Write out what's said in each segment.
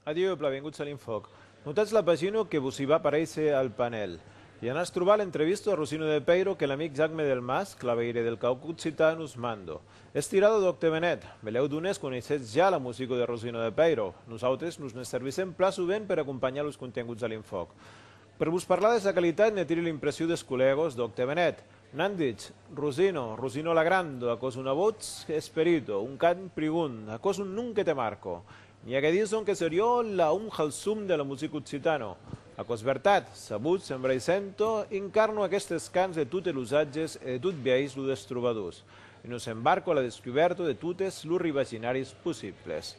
Adieu, plavenguts a l'Infòc. Notatz la pagina que vos i va paréisser al panèl. I anatz trobar l'entrevista a Rosino de Peiro que l'amic Jacme Delmas, claveire del Cauc Occitan, us mando. Estirado d'òc te venèt. Belèu d'unes coneissetz ja la musica de Rosino de Peiro. Nosautes nos ne servissèm plan sovent per acompanhar los contenguts a l'Infòc. Per vos parlar de sa qualitat ne tiri l'impressiu des collègos d'òc te venèt. N'an ditz, Rosino, Rosino Lagrando, aquò's una votz, esperito, un cant prigon, aquò's un nom que te marco. N'i a que dison qu'es eriò la un halsum de la musica occitano. Aquò's vertat, sabutz, en vreisento, incarno aquestes cants de totes los ages e de tot biais lo des trobadors. E nos embarco a la descubèrta de totes los rivaginaris possibles.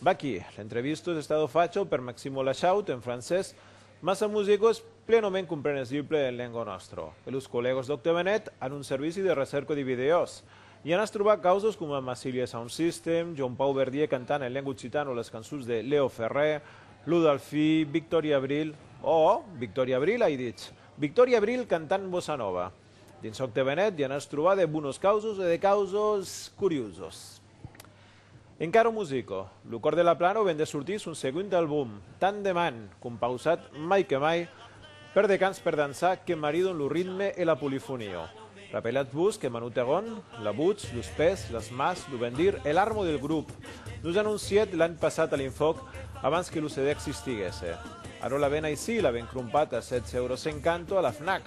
Vaquí, l'entrevista es estada facha per Maximo Lachaut en francés, mas sa musica es plenament comprenesible en lenga nòstra, e los collègas d'Octavenet an un servici de recèrca de vidèos, i anatz trobar causas coma Massilia Sound System, Joan Pau Verdier cantant en lenga occitana las cançons de Leo Ferré, Lo Dalfí, Victòria Abril, òòh, Victòria Abril ai ditz, Victòria Abril cantant bossa nova. Dins çò que venèt ja n'as trobat de bonos causos e de causos curiosos. Encaro Musico, lo còr de la Plano ven de sortir son segond album, Tant de Man, compausat mai que mai per de cants per dançar que maridon lo ritme e la polifonia. Rapelatz-vos que Manu Terron, la votz, los pès, las mas, lo ben dir e l'armo del grop, nos anoncièt l'an passat a l'Infòc abans que lo CD existiguèsse. Ara la ven aicí, la ven crompat a 7 euros 50 a la Fnac.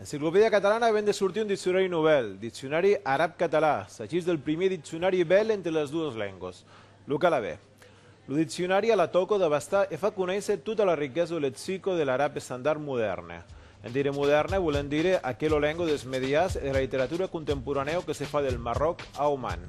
Enciclopèdia catalana ven de sortir un diccionari novèl, Diccionari arab-català, s'agís del primier diccionari bèl entre las duas lengas, lo calabè. Lo diccionari a la tòca d'abastar e fa conéisser tota la riquesa lexica de l'arab estandard modèrne. En dire modèrne volent dire aquela lenga dels medias e de la literatura contemporanèu que se fa del Marròc a Oman.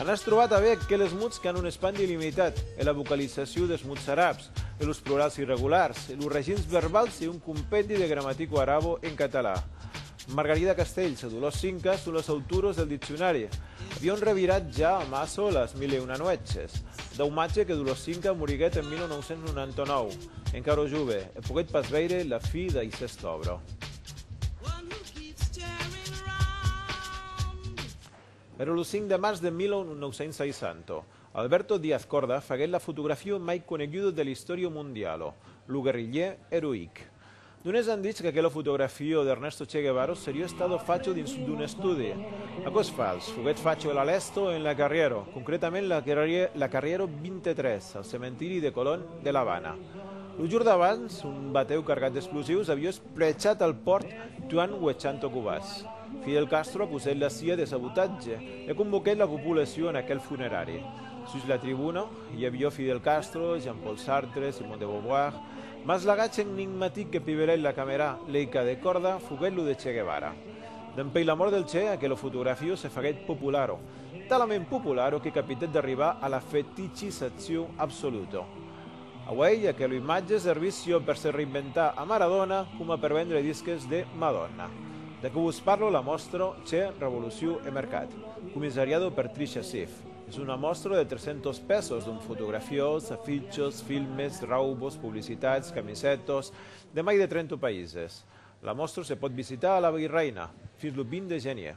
An es trobat avièc aqueles mots qu'an un espandi illimitat, e la vocalizacion des mots arabs, e los plurals irregulars, e los regins verbals e un compendi de gramatica arabo en català. Margarida Castells e Dolors Cinca son las autoras del diccionari. Avion revirat ja amassa çò las mil e una nuèches. Daumatge que Dolors Cinca moriguèt en 1999, encara jove, e poguèt pas veire la fi d'aicesta òbra. Èra lo 5 de març de 1960. Alberto Díaz Corda faguèt la fotografia mai coneguda de l'istòria mondiala, lo guerrilhier eroïc. D'unes an dich qu'aquela fotografia d'Ernesto Che Guevara seriá estada facha dins d'un estudi. Aquò es fals, foguèt facha a la lèsta o en la carrièra, concretament la carrièra 23, al cementiri de Colón de l'Avana. Lo jorn d'abans, un batèu cargat d'explosius aviá Prechats al pòrt, tuan uechant o cubas, Fidel Castro acusèt la cia de sabotatge e convoquèt la populacion a aquel funerari. Sus la tribuna, i avió Fidel Castro, Jean-Paul Sartre, Simone de Beauvoir, mas l'agach enigmatic que pivelèt la camèra leica de còrda foguèt lo de Che Guevara. Dempèi la mòrt del Che, aquelo fotografio se faguèt popularo, talament popularo que capitèt d'arribar a la feticizacion absoluta. Auèi, aquela imatge servís siò per se reinventar a Maradona coma per vendre disques de Madonna. De que vos parlo la mòstra Che revoluciu e mercat, comissariado per Trisha Sif. Es una mòstra de 300 pèços dont fotografiós, afichos, filmes, raubos, publicitats, camisètos, de mai de 30 païses. La mòstra se pòt visitar a la Virreina fins lo 20 de genier.